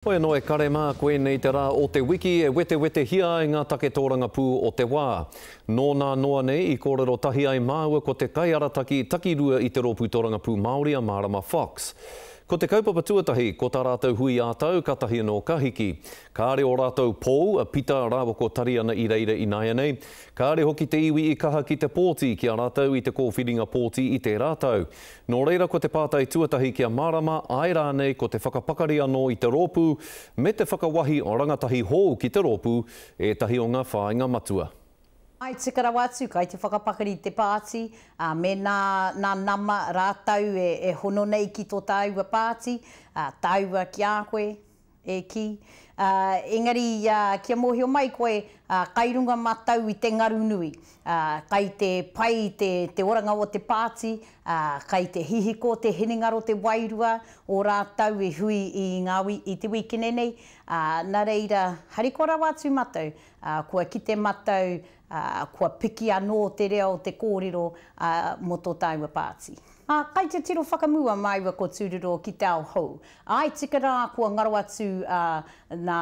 Hoi anō e kare mā, ko ēnei te rā o te wiki e wetewetehia ai ngā take tōrangapū o te wā. Nō nā noa nei i kōrero tahi ai māua ko te kaiarataki takirua i te Rōpū Tōrangapū Māori a Mārama Fox. Ko te kaupapa tuatahi, ko tā rātou hui ā-tau kātahi anō ka hiki. Kāre ō rātou pou, a Pita rāua ko Tariana i reira ināianei. Kāre hoki te iwi i kaha ki te pōti ki a rātou i te kōwhiringa pōti i tērā tau. Nō reira ko te pātai tuatahi kia mārama, āe rānei ko te whakapakari anō i te rōpū me te whakawahi rangatahi hou ki te rōpū ētahi o ngā whāinga matua. I tika rawa atu kai te whakapakari te pāti, ā, mēnā nā nama rātou e hono nei ki tō tāua pāti, ā, tāua ki a koe, E kī, ā, engari ia kia mōhio mai koe, ā, kai runga mātou i te ngaru nui, ā, kai te pai te, te oranga o te pāti, ā, kai te hihiko, te hinengaro, te wairua o rātou i hui i ngā, i te wīkine nei, ā, nā reira, harikoa rawa atu mātou, ā, kua kite mātou, ā, kua piki anō te reo o te kōrero, ā, mō tō tāua pāti. Ā, kai te tiro whakamua māua ko Tūroro ki te ao hou, Āe, tika rā, kua ngaro atu a, nā,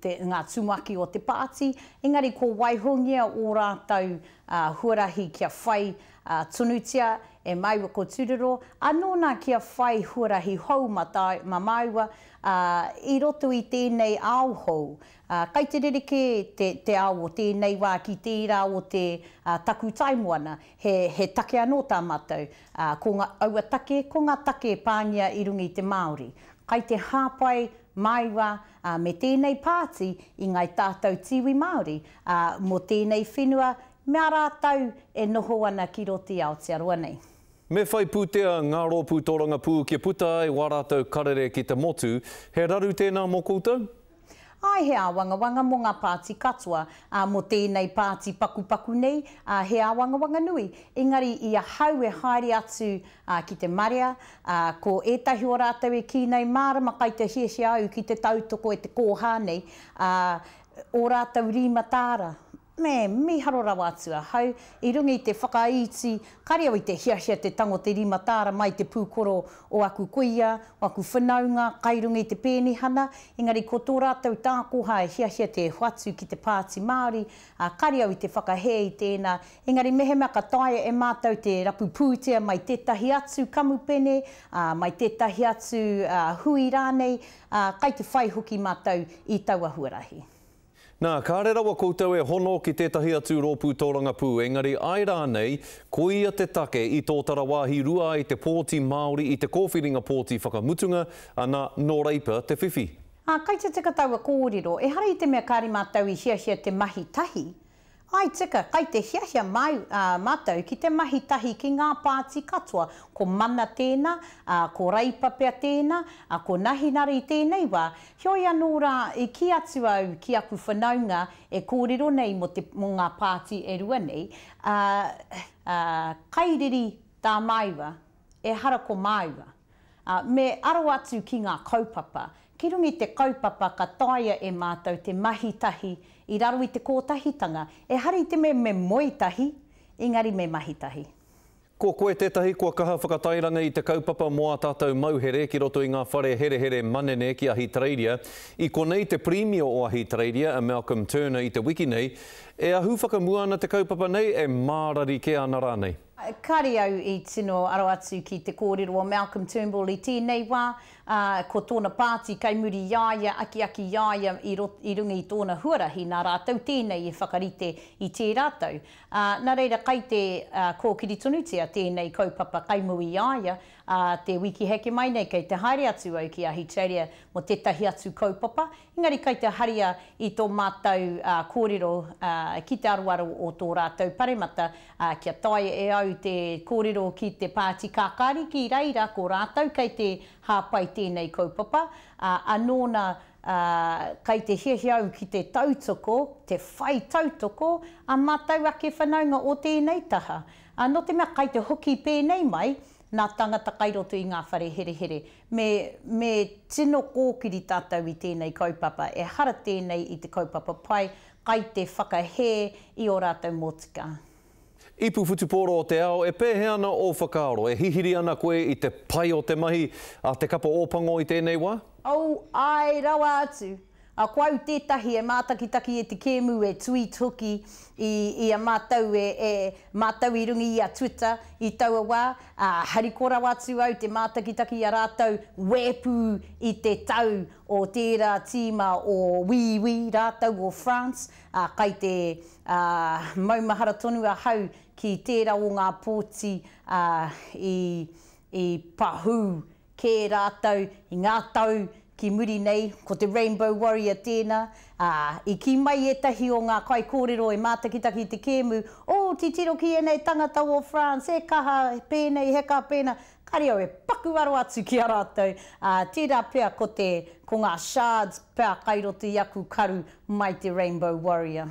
te, ngā tumuaki o te Pāti, engari kua waihongia ō rātou a, huarahi kia whai a, tonutia e māua ko Tūroro, anō nā kia whai huarahi hou mā, tāu, mā māua a, i roto i tēnei ao hou. A, kai te rerekē te, te ao o tēnei wā ki tērā o te, a, takutai moana, he, he take anō tā mātou. Ā, ko ngā, aua take, ko ngā take e pāngia i runga i te Māori. Kai te hāpai, māua, ā, me tēnei pāti i ngāi tātau tīwi Māori, ā, mō tēnei whenua me ā rātau e noho ana ki rō tī Aotearoa nei. Me whai pūtea ngā rōpū tōrangapū kia puta ai wā rātau karere ki te motu. He raru tēnā mō koutou? Āe he āwangawanga mō ngā pāti katoa, ā, mō tēnei pāti pakupaku nei, ā, he āwangawanga nui, engari i ahau e haere atu, ā, ki te marea, ā, ko ētahi o rātou e kī nei mārama kai te hiahia au ki te tautoko e te kōhā nei, ā, ō rātou rīma tāra, Me mīharo rawa atu ahau, i runga i te whakaiti, kāre au i te hiahia te tango te rima tāra mai te pūkoro o aku kuia, o aku whanaunga, kai runga i te pēnihana, engari ko tō rātou tākoha e hiahia te hoatu ki te Pāti Māori, ā, kāre au i te whakahē i tēnā, engari mehemea ka taea e mātou te rapu pūtea mai tētahi atu kamupene, ā, mai tētahi atu, ā, hui rānei, ā, kai te whai hoki mātou i taua huarahi. Nā, kāre rawa koutou e hono ki tētahi atu rōpū tōrangapū, engari āe rānei, koia te take i tōtara wāhi rua ai te pōti Māori i te kōwhiringa pōti whakamutunga, ana, nō Reipa te whiwhi. Ā, kei te teka taua kōrero, ehara i te mea kāre mātou i hiahia te mahi tahi, I tika, kai te hiahia māu, ā, mātou ki te mahi tahi ki ngā pāti katoa, ko Mana tēnā, ā, ko Reipa pea tēnā, ā, ko Nahinara i tēnei wā, heoi anō rā, i kī atu au ki aku whanaunga e kōrero nei mō te, mō ngā pāti e rua nei, ā, ā, kai riri tā māua. Ehara ko māua. Ā, me aro atu ki ngā kaupapa, ki runga i te kaupapa ka taea e mātou te mahi tahi i raro i te kōtahitanga, ehara i te mea me moe tahi, engari me mahi tahi. Ko koe tētahi kua kaha whakatairanga i te kaupapa mō ā tātou mauhere ki roto i ngā whare herehere manene ki Ahitereiria. I konei te Pirimia o Ahitereiria, a Malcolm Turner i te wiki nei, E ahu whakamua ana te kaupapa nei, e mārari kē ana rānei. Kāre au i tino aro atu ki te kōrero o Malcolm Turnbull i tēnei wā, ā, ko tōna pāti kei muri i a ia, akiaki i a ia i rot, i runga i tōna huarahi, nā rātou tēnei e whakarite i tērā tau. Ā, nā reira kai te, ā, kōkiri tonutia tēnei kaupapa kai muri i a ia, ā, te wiki heke mai nei kei te haere atu au ki Ahitereiria mō tētahi atu kaupapa, Engari kai te haria i tō mātou kōrero ki te aroaro o tō rātou paremata, kia taea e au te kōrero ki te Pāti Kākāriki i reira ko rātou kei te hāpai tēnei kaupapa, ā, anō nā, kai te hiahia au ki te tautoko, te whai tautoko, ā mātou ake whanaunga o tēnei taha. Nō te mea kai te hoki pēnei mai, nā tāngata kai roto i ngā whare herehere, Me, me tino kōkiri tātou i tēnei kaupapa, ehara tēnei i te kaupapa pai, kai te whakahē i ō rātou motika. Ipu Whutupōro o te Ao, E pēhea ana ō whakaaro? E hihiri ana koe i te pai o te mahi a Te Kapa Ōpango i tēnei wā? Oh, āe rawa atu! A ko au tētahi e mātakitaki e te kēmu e tweet hoki i i a mātou e e mātou i runga i a Twitter i taua wā, ā, hariko rawa atu au te mātakitaki i a rātou wēpū i te tau o tērā tīma o Wīwī rātou o France, ā, kai te, ā, maumahara tonu ahau ki tērā o ngā pōti, ā, i i pahū kē rātou i ngā tau ki muri nei, ko te Rainbow Warrior tēnā, ā, i kī mai ētahi o ngā kaikōrero e mātakitaki i te kēmu, Oo, titiro ki ēnei tangata o France, he kaha pēnei, he kaha pēnā, ka reo e paku aro atu ki a rātou, ā, tērā pea ko te, ko ngā shards pea kai roto i aku karu mai te Rainbow Warrior.